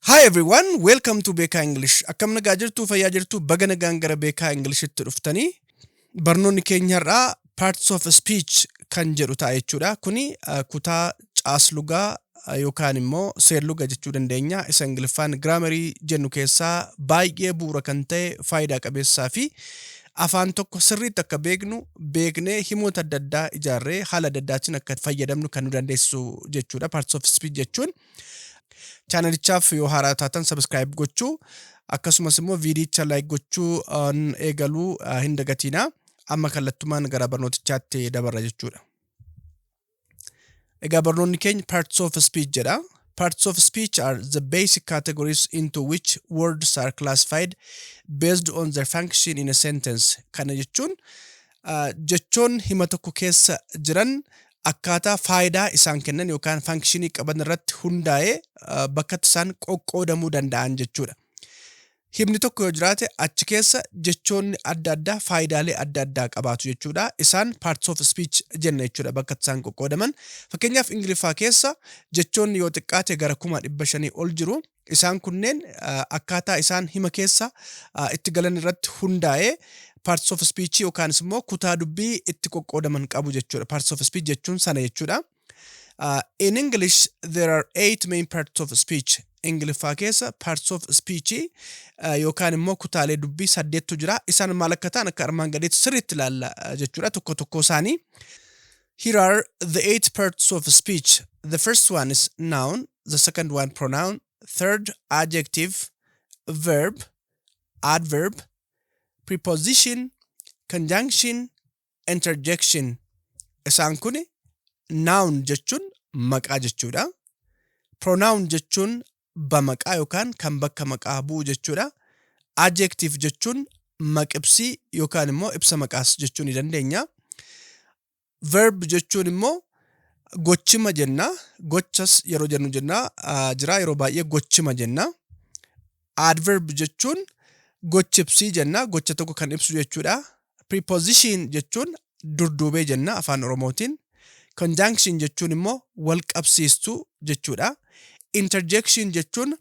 Hi everyone, welcome to Beekaa English. Akkam nagaa jirtu, fayyaa jirtu, baga nagaan gara Beekaa Englishtti dhuftanii. Barnoonni keenya har'aa Parts of Speech kan jedhu ta'a jechuudha. Kuni uh, kutaa caaslugaa uh, yookaan immoo seerluga jechuu dandeenya. Isa Ingiliffaan giraamarii jennu keessaa baay'ee bu'uura kan ta'e faayidaa qabeessaa fi afaan tokko sirriitti akka beeknu beeknee himoota adda addaa ijaarree haala adda addaatiin akka fayyadamnu kan nu dandeessisu jechuudha. Parts of Speech jechuun. Chaanalichaaf yoo haaraa taatan subscribe gochuu akkasumas immoo viidiyicha like gochuu eegaluu hin dagatiina. Amma kallattumaan gara barnootichaatti dabarra jechuudha. Egaa barnoonni keenya parts of speech jedha. Parts of speech are the basic categories into which words are classified based on their function in a sentence. Kana jechuun jechoonni hima tokko keessa jiran akkaataa faayidaa isaan kennan yookaan faankshinii qaban irratti hundaa'ee bakkatti isaan qoqqoodamuu danda'an jechuudha. Himni tokko yoo jiraate achi keessa jechoonni adda addaa faayidaalee adda addaa qabaatu jechuudha. Isaan parts of speech jenna jechuudha bakkatti isaan qoqqoodaman. Fakkeenyaaf Ingiliffaa keessa jechoonni yoo xiqqaate gara kuma dhibba shanii ol jiru. Isaan kunneen akkaataa isaan hima keessa itti galan irratti hundaa'ee parts of speech yookaanis immoo kutaa dubbii itti qoqqoodaman qabu jechuudha. Parts of speech jechuun sana jechuudha. Uh, in English, there are eight main parts of speech. Ingiliffaa keessa parts of speech uh, yookaan immoo kutaalee dubbii saddeettu jira. Isaan maal akka ta'an akka armaan gadiitti sirriitti ilaalla uh, jechuudha tokko tokkoo isaanii. Here are the eight parts of speech. The first one is noun, the second one pronoun, third adjective, verb, adverb, preposition, conjunction, interjection. Isaan kun noun jechuun maqaa jechuudha. Pronoun jechuun abba maqaa yookaan kan bakka maqaa bu'u jechuudha. Adjective jechuun maqibsii yookaan immoo ibsa maqaas jechuu ni dandeenya. Verb jechuun immoo gochima jenna. Gochas yeroo jennu jenna ah, jira yeroo baay'ee gochima jenna. Adverb jechuun gochibsii jenna. Gocha tokko kan ibsu jechuudha. Preposition jechuun durduubee jenna afaan Oromootiin. Conjunction jechuun immoo wal qabsiistuu jechuudha. Interjection jechuun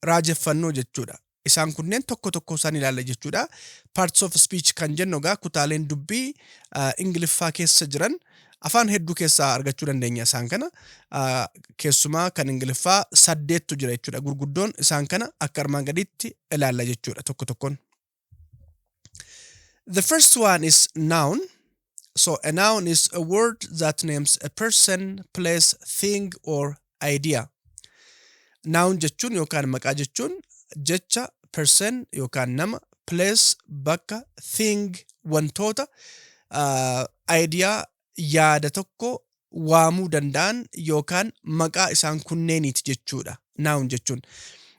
raajeffannoo jechuudha. Isaan kunneen tokko tokko isaan ilaalla jechuudha. Parts of speech kan jennu egaa kutaaleen dubbii ah, Ingiliffaa keessa jiran afaan hedduu keessaa argachuu dandeenya isaan kana. Ah, Keessumaa kan Ingiliffaa saddeettu jira jechuudha. Gurguddoon isaan kana akka armaan gadiitti ilaalla jechuudha tokko tokkoon. The first one is noun. So a noun is a word that names a person, place, thing or idea. Noun jechuun yookaan maqaa jechuun jecha person yookaan nama, place, bakka, thing, wantoota, uh, idea, yaada tokko waamuu danda'an yookaan maqaa isaan kunneeniiti jechuudha. Noun jechuun.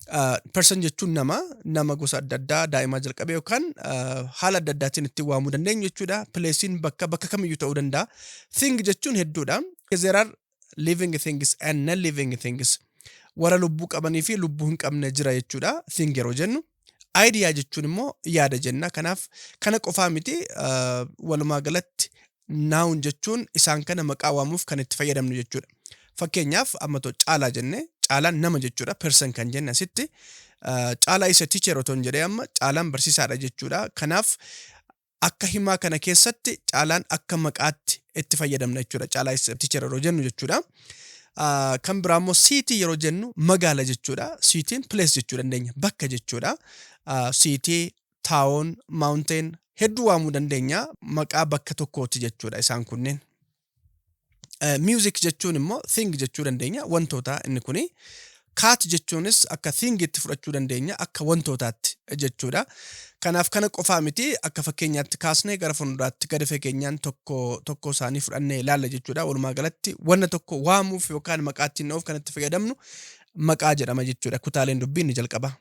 Uh, person jechuun nama, nama gosa adda addaa daa'imaa jalqabee yookaan uh, haala adda addaatiin ittiin waamuu dandeenyu jechuudha. Pileesiin bakka bakka kamiyyuu ta'uu danda'a. Thing jechuun hedduudha. There are living things and non living things warra lubbuu qabanii fi lubbuu hin qabne jira jechuudha thing yeroo jennu idea jechuun immoo yaada jenna kanaaf kana qofaa miti uh, walumaa galatti noun jechuun isaan kana maqaa waamuuf kan itti fayyadamnu jechuudha fakkeenyaaf amma too caalaa jenne caalaan nama jechuudha person kan jenne asitti uh, caalaa isa teacher otoo hin jedhee amma caalaan barsiisaadha jechuudha kanaaf akka himaa kana keessatti caalaan akka maqaatti itti fayyadamna jechuudha. Caalaa is teacher yeroo jennu jechuudha. Ah, Kan biraa immoo siitii yeroo jennu magaala jechuudha. Siitiin place jechuu dandeenya. Bakka jechuudha. Ah, Siitii, town, mountain hedduu waamuu dandeenya. Maqaa bakka tokkooti jechuudha isaan kunneen. Music jechuun immoo thing jechuu dandeenya wantootaa inni kuni. Cat jechuunis akka thing itti fudhachuu dandeenya akka wantootaatti jechuudha. Kanaaf kana qofaa miti akka fakkeenyaatti kaasnee gara fuulduraatti gadi fageenyaan tokko tokko isaanii fudhannee ilaalla jechuudha. Walumaa galatti wanna tokko waamuuf yookaan maqaa ittiin dha'uuf kan itti fayyadamnu maqaa jedhama jechuudha. Kutaaleen dubbii inni jalqaba.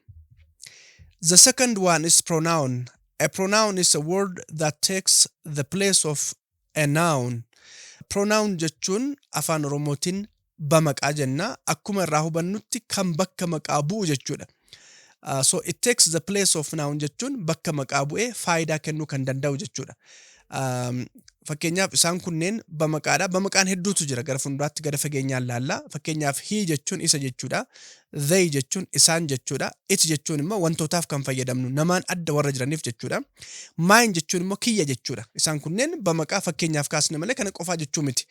The second one is pronoun. A pronoun is a word that takes the place of A noun Pronoun jechuun afaan oromootiin bamaqaa jenna. Akkuma irraa hubannutti kan bakka maqaa bu'u jechuudha. Uh, so it takes the place of noun jechuun bakka maqaa bu'ee faayidaa kennuu kan danda'u jechuudha. Um, fakkeenyaaf isaan kunneen bamaqaadha. Bamaqaan hedduutu jira gara fuulduraatti gara fageenyaan laalla. Fakkeenyaaf hii jechuun isa jechuudha. They jechuun isaan jechuudha. It jechuun immoo wantootaaf kan fayyadamnu namaan adda warra jiraniif jechuudha. Mine jechuun immoo kiyya jechuudha. Isaan kunneen bamaqaa fakkeenyaaf kaasne malee kana qofaa jechuu miti.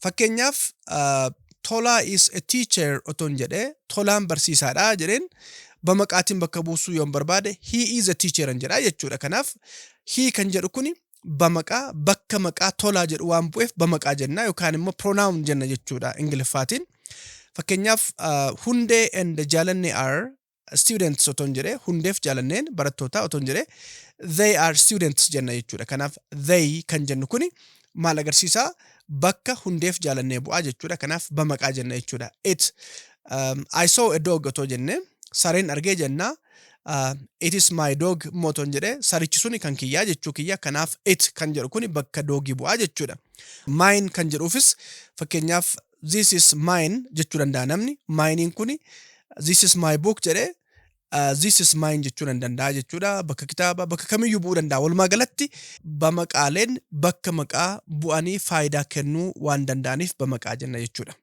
Fakkeenyaaf ah, Tolaa is a teacher otoon jedhee Tolaan barsiisaadha jedheen bamaqaatiin bakka buusuu yoon barbaade he is a teacher an jedhaa jechuudha. Kanaaf he kan jedhu kuni bamaqaa bakka maqaa tolaa jedhu waan bu'eef bamaqaa jenna yookaan immoo pronoun jenna jechuudha ingiliffaatiin. Fakkeenyaaf uh, hundee and jaalanne are students otoon jedhe hundeef jaalanneen barattootaa otoon jedhe they are students jenna jechuudha. Kanaaf they kan jennu kuni maal agarsiisaa bakka hundeef jaalannee bu'aa jechuudha. Kanaaf bamaqaa jenna jechuudha. It um, I saw a dog otoo jenne sareen argee jennaa uh, it is my dog moton jedhe sarichi suni kan kiyyaa jechuu kiyya kanaaf it kan jedhu kuni bakka doogii bu'aa jechuudha. Mine kan jedhuufis fakkeenyaaf this is mine jechuu danda'a namni minein kuni this is my book jedhe uh, this is mine jechuu nan danda'a jechuudha bakka kitaaba bakka kamiyyuu bu'uu danda'a walumaa galatti bamaqaaleen bakka maqaa bu'anii faayidaa kennuu waan danda'aniif bamaqaa jenna jechuudha.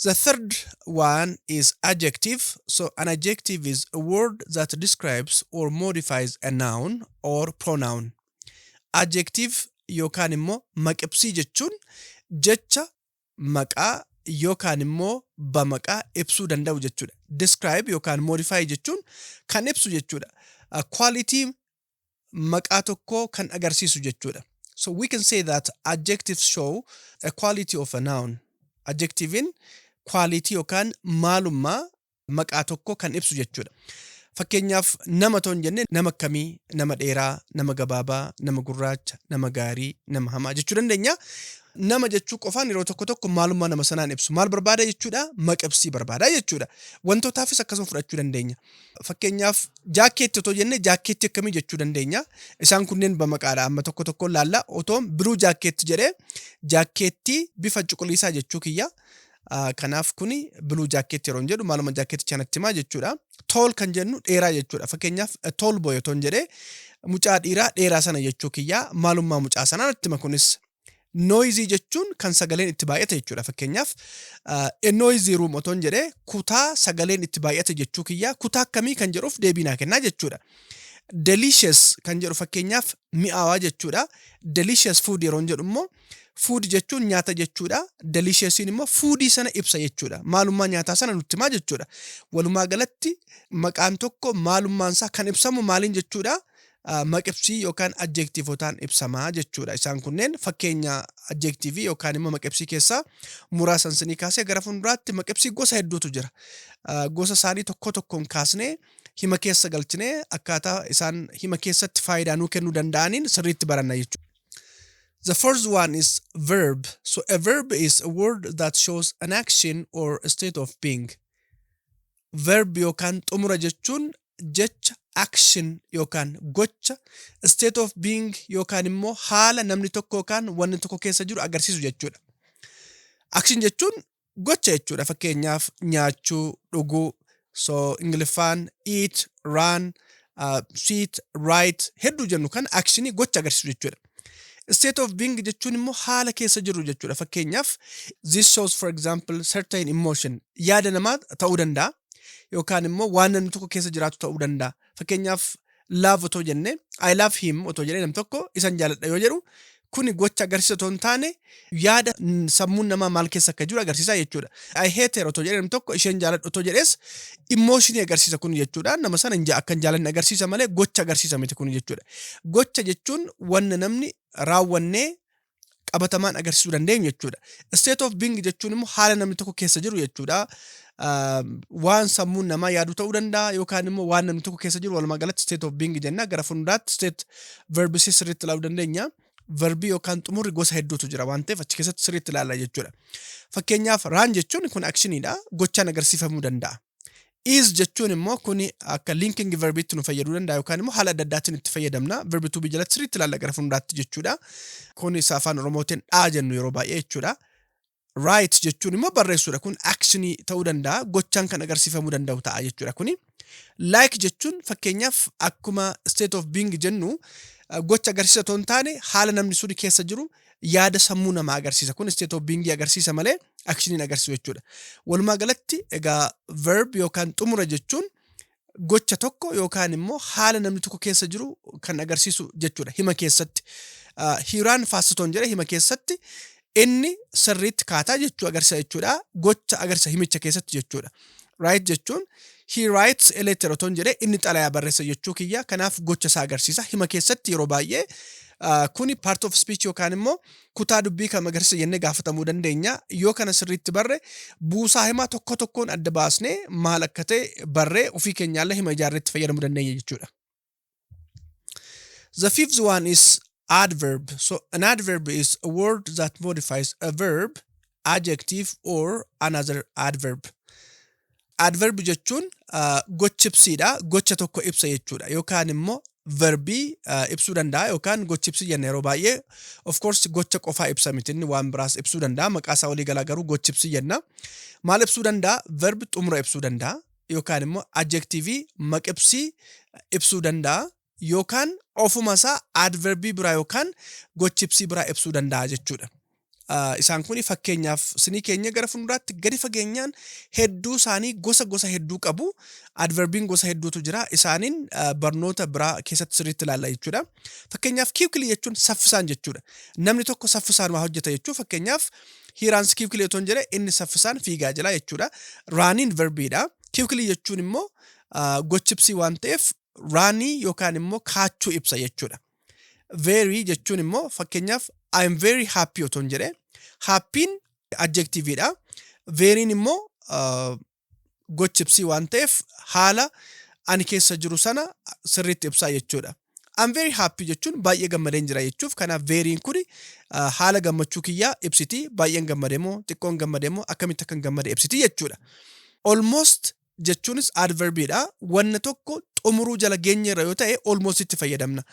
The third one is adjective. So an adjective is a word that describes or modifies a noun or pronoun. Adjective yookaan immoo maqibsii jechuun jecha maqaa yookaan immoo bamaqaa ibsuu danda'u jechuudha. Describe yookaan modify jechuun kan ibsu jechuudha. Quality maqaa tokkoo kan agarsiisu jechuudha. So we can say that adjectives show a quality of a noun. Adjective'n quality yookaan maalummaa maqaa tokkoo kan ibsu jechuudha. Fakkeenyaaf nama toon jenne nama akkamii, nama dheeraa, nama gabaabaa, nama gurraacha, nama gaarii, nama hamaa jechuu dandeenya. Nama jechuu qofaan yeroo tokko tokko maalummaa nama sanaan ibsu. Maal barbaada jechuudha? Maqibsii barbaada jechuudha. Wantootaafis akkasuma fudhachuu dandeenya. Fakkeenyaaf jaakkeetti otoo jenne jaakkeetti akkamii jechuu dandeenya? Isaan kunneen bamaqaadha. Amma tokko tokkoon laalla. Otoon biruu jaakkeetti jedhee jaakkeetti bifa cuquliisaa jechuu kiyya. Ah, Kanaaf kuni biluu jaakkeetti yeroo hin jedhu maaluma jaakkeetti chanatti himaa jechuudha. Tool kan jennu dheeraa jechuudha. Fakkeenyaaf tool boy otoon jedhee mucaa dhiiraa dheeraa sana jechuu kiyya maalummaa mucaa sanaa natti hima kunis. Noisy jechuun kan sagaleen itti baay'ate jechuudha. Fakkeenyaaf a noisy room otoon jedhee kutaa sagaleen itti baay'ate jechuu kiyyaa kutaa akkamii kan jedhuuf deebii naa kennaa jechuudha. Delicious kan jedhu fakkeenyaaf mi'aawaa jechuudha. Delicious food yeroon jedhu immoo food jechuun nyaata jechuudha. Deliciousiin immoo foodii sana ibsa jechuudha. Maalummaa nyaataa sana nutti himaa jechuudha. Walumaa galatti maqaan tokko maalummaan isaa kan ibsamu maaliin jechuudha? maqibsii yookaan adjektiivotaan ibsama jechuudha. Isaan kunneen fakkeenya adjektiivii yookaan immoo maqibsii keessaa muraasa isinii kaasee gara fuulduraatti maqibsii gosa hedduutu jira. Ah, Gosa isaanii tokko tokkoon kaasnee hima keessa galchinee akkaataa isaan hima keessatti faayidaa nuu kennuu danda'aniin sirriitti baranna jechuudha. The first one is verb. So a verb is a word that shows an action or a state of being. verb yookaan xumura jechuun jecha, action, yookaan gocha, state of being yookaan immoo haala namni tokko yookaan wanni tokko keessa jiru agarsiisu jechuudha. Action jechuun gocha jechuudha. Fakkeenyaaf nyaachuu, dhuguu, so Ingiliffaan eat, run, uh, sit, write hedduu jennu kan actionii gocha agarsiisu jechuudha. State of being jechuun immoo haala keessa jirru jechuudha. Fakkeenyaaf this shows for example certain emotion yaada namaa ta'uu danda'a yookaan immoo waan namni tokko keessa jiraatu ta'uu danda'a. Fakkeenyaaf love otoo jenne I love him otoo jedhee nam tokko isan jaaladha yoo jedhu kuni gocha agarsiisa otoo hin taane yaada sammuun namaa maal keessa akka jiru agarsiisa jechuudha. I hate her otoo jedhee namni tokko isheen jaaladhu otoo jedhees immooshinii agarsiisa kun jechuudha. Nama sana hin ja- akka hin jaalanne agarsiisa malee gocha agarsiisa miti kun jechuudha. Gocha jechuun wanna namni raawwannee qabatamaan agarsiisuu dandeenyu jechuudha. State of being jechuun immoo haala namni tokko keessa jiru jechuudha. Ah, Waan sammuun namaa yaadu ta'uu danda'a yookaan immoo waan namni tokko keessa jiru walumaa galatti state of being jenna gara fuulduraatti state verbs sirriitti ilaaluu dandeenya. verbii yookaan xumurri gosa hedduutu jira waan ta'eef achi keessatti sirriitti ilaalla jechuudha. Fakkeenyaaf raan jechuun kun akshiniidha gochaan agarsiifamuu danda'a. Is jechuun immoo kun akka linking verbiitti nu fayyaduu danda'a yookaan immoo haala adda addaatiin itti fayyadamna verbi tuubii jalatti sirriitti ilaalla gara fuulduraatti jechuudha. Kun isa afaan oromootiin dhaa jennu yeroo baay'ee jechuudha. Write jechuun immoo barreessuudha. Kun actionii ta'uu danda'a. Gochaan kan agarsiifamuu danda'u ta'a jechuudha kuni. Like jechuun fakkeenyaaf akkuma state of being jennu eh, gocha agarsiisa otoo hin taane haala namni suni keessa jiru yaada sammuu namaa agarsiisa. Kun state of being agarsiisa malee actioniin agarsiisu jechuudha. Walumaa galatti egaa verb yookaan xumura jechuun gocha tokko yookaan immoo haala namni tokko keessa jiru kan agarsiisu jechuudha hima keessatti. Hiiraan faasitoon jedha hima keessatti inni sirriitti kaataa jechuu agarsiisa jechuudha. Gocha agarsiisa himicha keessatti jechuudha. Right jechuun he writes a letter otoon jedhee inni xalayaa barreessa jechuu kiyya kanaaf gocha isaa agarsiisa hima keessatti yeroo baay'ee kuni part of speech yookaan immoo Kutaa dubbii kam agarsiisa jennee gaafatamuu dandeenya. Yoo kana sirriitti barre buusaa himaa tokko tokkoon adda baasnee maal akka ta'e barree ofii keenyaallee hima ijaarree itti fayyadamuu dandeenya jechuudha. The fifth one is adverb. So an adverb is a word that modifies a verb adjective or another adverb. Adverb jechuun ah, gocha ibsiidha. Gocha tokko ibsa jechuudha. Yookaan immoo verbii ah, ibsuu danda'a yookaan gocha ibsii jenna yeroo baay'ee. Of course gocha qofaa ibsa miti inni waan biraas ibsuu danda'a. Maqaa isaa walii galaa garuu gocha ibsii jenna. Maal ibsuu danda'a? Verb xumura ibsuu danda'a. Yookaan immoo adjectivii maqibsii ibsuu danda'a. yookaan ofuma isaa adverbii biraa yookaan gochibsii biraa ibsuu danda'a jechuudha. Isaan kun fakkeenyaaf sinii keenya gara fuulduraatti gadi fageenyaan hedduu isaanii gosa gosa hedduu qabu. Adverbiin gosa hedduutu jira. Isaaniin barnoota biraa keessatti sirriitti ilaalla jechuudha. Fakkeenyaaf kiikilii jechuun saffisaan jechuudha. Namni tokko saffisaan waa hojjeta jechuu fakkeenyaaf hiiraans kiikilii otoo hin jedhe inni saffisaan fiigaa jira jechuudha. Raaniin verbiidha. Kiikilii jechuun immoo gochibsii waan ta'eef raanii yookaan immoo kaachuu ibsa jechuudha. Very jechuun immoo fakkeenyaaf I am very happy otoon jedhee happy'n adjective dha. Very'n immoo uh, gochi ibsii waan ta'eef haala ani keessa jiru sana sirriitti ibsaa jechuudha. I'm very happy jechuun baay'ee gammadeen jira jechuuf kanaaf very'n kun uh, haala gammachuu kiyyaa ibsiti baay'een gammade moo xiqqoon gammade moo akkamitti akkan gammade ibsiti jechuudha. Almost jechuunis adverbii dha. Wanna tokko xumuruu jala geenye irra yoo ta'e almost itti fayyadamna.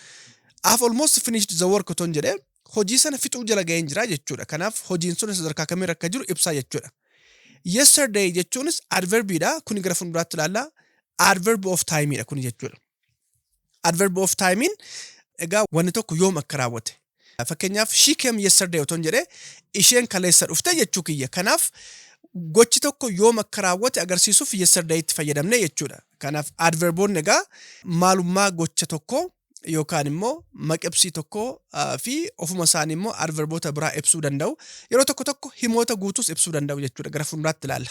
Af almost finished the work oton jedhe hojii sana fixuu jala ga'een jira jechuudha. Kanaaf hojiin sun sadarkaa kamirra akka jiru ibsaa jechuudha. Yesterday jechuunis adverbii dha. Kuni gara fuulduraatti ilaalla. Adverb of time dha kuni jechuudha. adverb of timein egaa wanni tokko yoom akka raawwate fakkeenyaaf she came yesterday otoon jedhee isheen kaleessa dhufte jechuu kiyya kanaaf gochi tokko yoom akka raawwate agarsiisuuf yesterday itti fayyadamne jechuudha kanaaf adverboonni egaa maalummaa gocha tokko yookaan immoo maqibsii tokko ah, fi ofuma isaanii immoo adverboota biraa ibsuu danda'u yeroo tokko tokko himoota guutuus ibsuu danda'u jechuudha gara fuulduraatti ilaalla.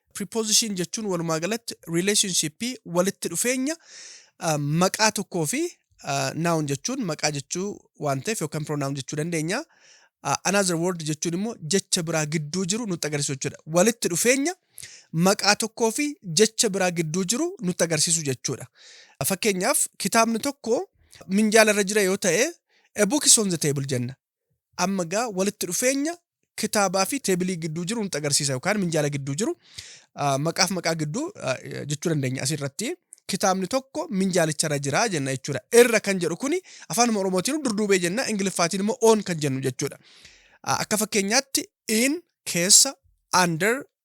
Preposition jechuun walumaa galatti relationship walitti dhufeenya ah, maqaa tokkoo fi ah, noun jechuun maqaa jechuu waan ta'eef yookaan pronoun jechuu dandeenya. Ah, Another word jechuun immoo jecha biraa gidduu jiru nutti agarsiisu jechuudha. Walitti dhufeenya maqaa tokkoo fi jecha biraa gidduu jiru nutti agarsiisu jechuudha. Fakkeenyaaf kitaabni tokko minjaala irra jira yoo ta'e a book is on the table jenna. Amma egaa walitti dhufeenya kitaabaa fi teebilii gidduu jiru nutti agarsiisa yookaan minjaala gidduu jiru ah, maqaaf maqaa gidduu ah, jechuu dandeenya asirratti. Kitaabni tokko minjaalicharra jira jenna jechuudha. Irra kan jedhu kuni afaanuma Oromootiin durduubee jenna, Ingiliffaatiin immoo on kan jennu jechuudha. Ah, Akka fakkeenyaatti in keessa, under,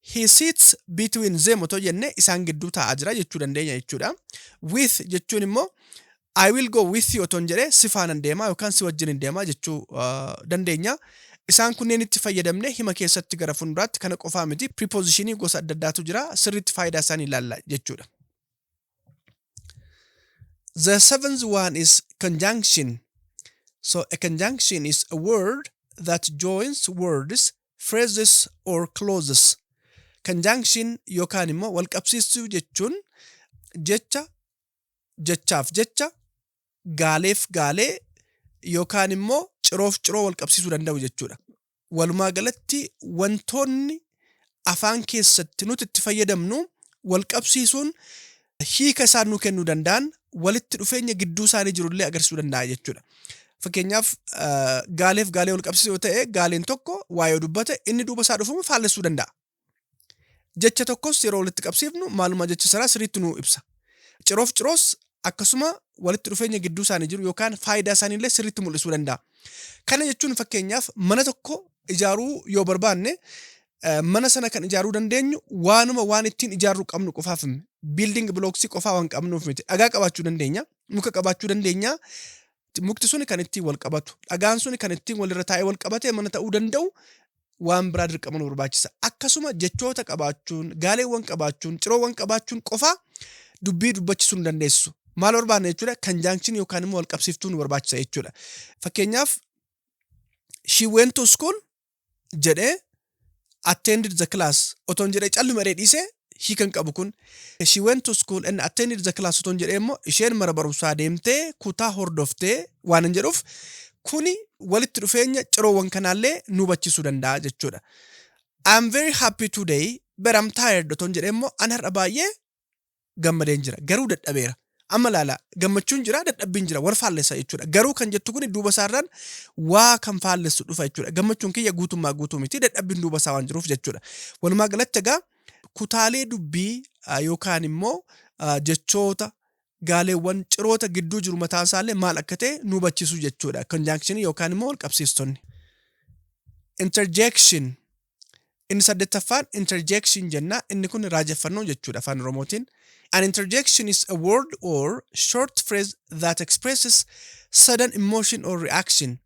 He sits between them otoo jenne isaan gidduu taa'aa jira jechuu dandeenya jechuudha. With jechuun immoo I will go with you otoon jedhee si faanan deemaa yookaan si wajjin hin deemaa jechuu dandeenya. Isaan kunneenitti fayyadamne hima keessatti gara fuulduraatti kana qofaa miti piripoozishinii gosa adda addaatu jira sirriitti faayidaa isaanii ilaalla jechuudha. The seventh one is conjunction. So a conjunction is a word that joins words phrases or clauses conjunction yookaan immoo walqabsiistuu jechuun jecha jechaaf jecha, gaaleef gaalee yookaan immoo ciroof ciroo walqabsiisuu danda'u jechuudha. Walumaa galatti wantoonni afaan keessatti nuti itti fayyadamnu walqabsiisuun hiika isaan nuu kennuu danda'an walitti dhufeenya gidduu isaanii jiru illee agarsiisuu danda'a jechuudha. Fakkeenyaaf gaaleef gaalee wal qabsiisuu yoo ta'e gaaleen tokko waa'ee yoo dubbate inni duuba isaa dhufamu faallessuu danda'a. Jecha tokkos yeroo walitti qabsiifnu maalummaa jecha sanaa sirriitti nuu ibsa. Ciroof ciroos akkasuma walitti dhufeenya gidduu isaanii jiru yookaan faayidaa isaanii illee sirriitti mul'isuu danda'a. Kana jechuun fakkeenyaaf mana tokko ijaaruu yoo barbaanne mana sana kan ijaaruu dandeenyu waanuma waan ittiin ijaarru qabnu qofaaf biilding bilooksii qofaa waan qabnuuf miti. Dhagaa qabaachuu dandeenya, muka qabaachuu dandeenya, mukti suni kan ittiin wal qabatu, dhagaan suni kan ittiin walirra taa'ee wal qabatee mana ta'uu danda'u waan biraa dirqama nu barbaachisa. Akkasuma jechoota qabaachuun, gaaleewwan qabaachuun, ciroowwan qabaachuun qofaa dubbii dubbachisuu nu dandeessisu. Maal barbaanna jechuudha? Kanjaankshini yookaan immoo wal qabsiiftuu nu barbaachisa jechuudha. Fakkeenyaaf she went to school jedhee attended the class otoon jedhee calluma jedhee dhiisee hiika hin qabu kun. She went to school and attended the class otoon jedhee immoo isheen mana barumsaa deemtee kutaa hordoftee waan hin jedhuuf kuni walitti dhufeenya ciroowwan kanaallee nu hubachiisuu danda'a jechuudha. I'm very happy today but I'm tired otoon jedhee immoo an har'a baay'ee gammadeen jira garuu dadhabeera amma ilaala gammachuun jira dadhabbiin jira wal faallessa jechuudha garuu kan jettu kun duuba isaarraan waa kan faallessu dhufa jechuudha gammachuun kiyya guutummaa guutuu miti dadhabbiin duuba isaa waan jiruuf jechuudha walumaa galatti egaa kutaalee dubbii ah, yookaan immoo ah, jechoota gaaleewwan ciroota gidduu jiru mataan isaallee maal akka ta'e nu hubachiisu jechuudha conjunction yookaan immoo wal qabsiistonni interjection Inni saddettaffaan interjection jenna. Inni kun raajeffannoo jechuudha afaan Oromootiin. An interjection is a word or short phrase that expresses sudden emotion or reaction.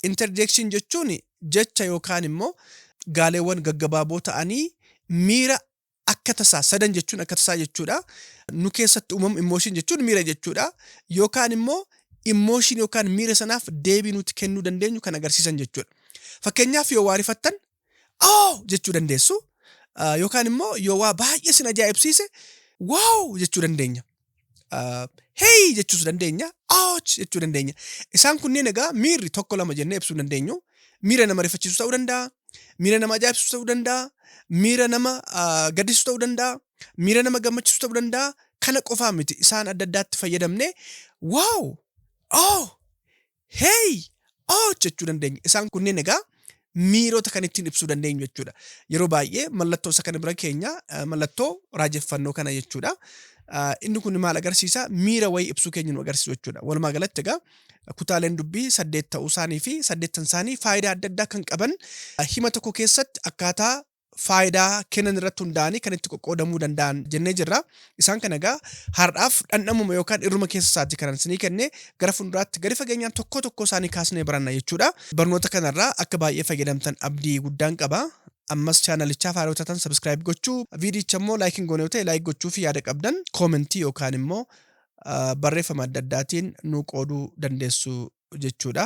Interjection jechuun jecha yookaan immoo gaaleewwan gaggabaaboo ta'anii miira akka tasaa sadan jechuun akka tasaa jechuudha. Nu keessatti uumamu immooshin jechuun miira jechuudha. Yookaan immoo immooshin yookaan miira sanaaf deebii nuti kennuu dandeenyu kan agarsiisan jechuudha. Fakkeenyaaf yoo waa rifattan oo jechuu dandeessu. Yookaan immoo yoo waa baay'ee sin ajaa'ibsiise waaw jechuu dandeenya. heey jechuus dandeenya, ouch jechuu dandeenya. Isaan kunneen egaa miirri tokko lama jennee ibsuu dandeenyu. Miira nama rifachiisu ta'uu danda'a, miira nama ajaa'ibsiisu ta'uu danda'a, miira nama gaddisiisu ta'uu danda'a, miira nama gammachiisu ta'uu danda'a. Kana qofaa miti isaan adda addaatti fayyadamne waaw, oh, hey, oh jechuu dandeenya. Isaan kunneen egaa miirota kan ittiin ibsuu dandeenyu jechuudha. Yeroo baay'ee mallattoo isa kana bira keenya eh, mallattoo raajeffannoo kana jechuudha. Ah, Inni kun maal agarsiisa? Miira wayii ibsuu keenya nu agarsiisu jechuudha. Walumaa galatti egaa kutaaleen dubbii saddeet ta'uu isaanii fi saddeettan isaanii faayidaa adda addaa kan qaban ah, hima tokko keessatti akkaataa faayidaa kennan irratti hundaa'anii kan itti qoqqoodamuu danda'an jennee jirra. Isaan kana egaa har'aaf dhandhamuma yookaan irruma keessa isaati kanan isinii kenne gara fuulduraatti gadi fageenyaan tokkoo tokkoo isaanii kaasnee baranna jechuudha. Barnoota kanarraa akka baay'ee fayyadamtan abdii guddaan qaba. Ammas chaanalichaaf haaraa taatan sabiskiraayib gochuu, viidiyicha immoo laayik hin goone yoo ta'e laayik gochuu fi yaada qabdan koomentii yookaan immoo barreeffama adda addaatiin nuu qooduu dandeessu jechuudha.